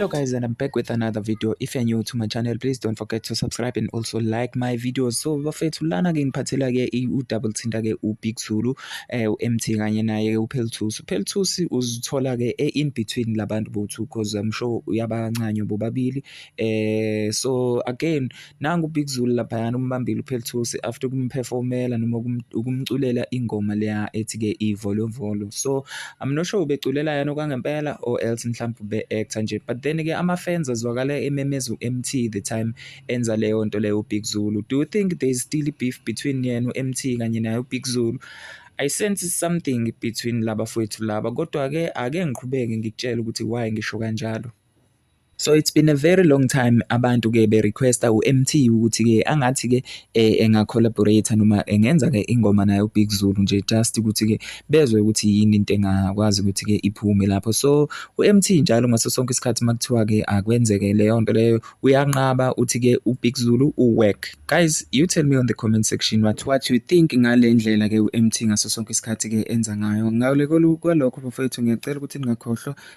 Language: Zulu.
hello guys and i'm back with another video if you're new to my channel please don't forget to subscribe and also like my videos so bafethu lana ke ngiphathela ke u-double thinta ke ubig zulu eh u-mt kanye naye ke uphelthusi uphelthusi uzithola ke e-in between labantu bothu because i'm sure uyabancanywa bobabili eh so again Nangu uBig Zulu laphayana umbambile uPhelthusi after ukumperformela noma ukumculela ingoma leya ethi-ke ivolovolo so I'm not sure ubeculela yena okwangempela or else mhlawumbe ube-actor nje but then-ke ama-fans azwakala ememeza u-MT the time enza leyo nto leyo uBig Zulu do you think there is still beef between yena u-MT kanye naye uBig Zulu I sense something between laba fwethu laba kodwa-ke ake ngiqhubeke ngikutshele ukuthi why ngisho kanjalo. So it's been a very long time abantu ke be request uMT ukuthi ke angathi ke eh, enga collaborate noma engenza ke ingoma naye uBig Zulu nje just ukuthi ke bezwe ukuthi yini into engakwazi ukuthi ke iphume lapho so uMT njalo ngaso sonke isikhathi makuthiwa ke akwenzeke leyo nto leyo uyanqaba uthi ke uBig Zulu uwork guys you tell me on the comment section what what you think ngalendlela ke uMT ngaso sonke isikhathi ke enza ngayo ngawule kwalokho bafethu ngiyacela ukuthi ningakhohlwa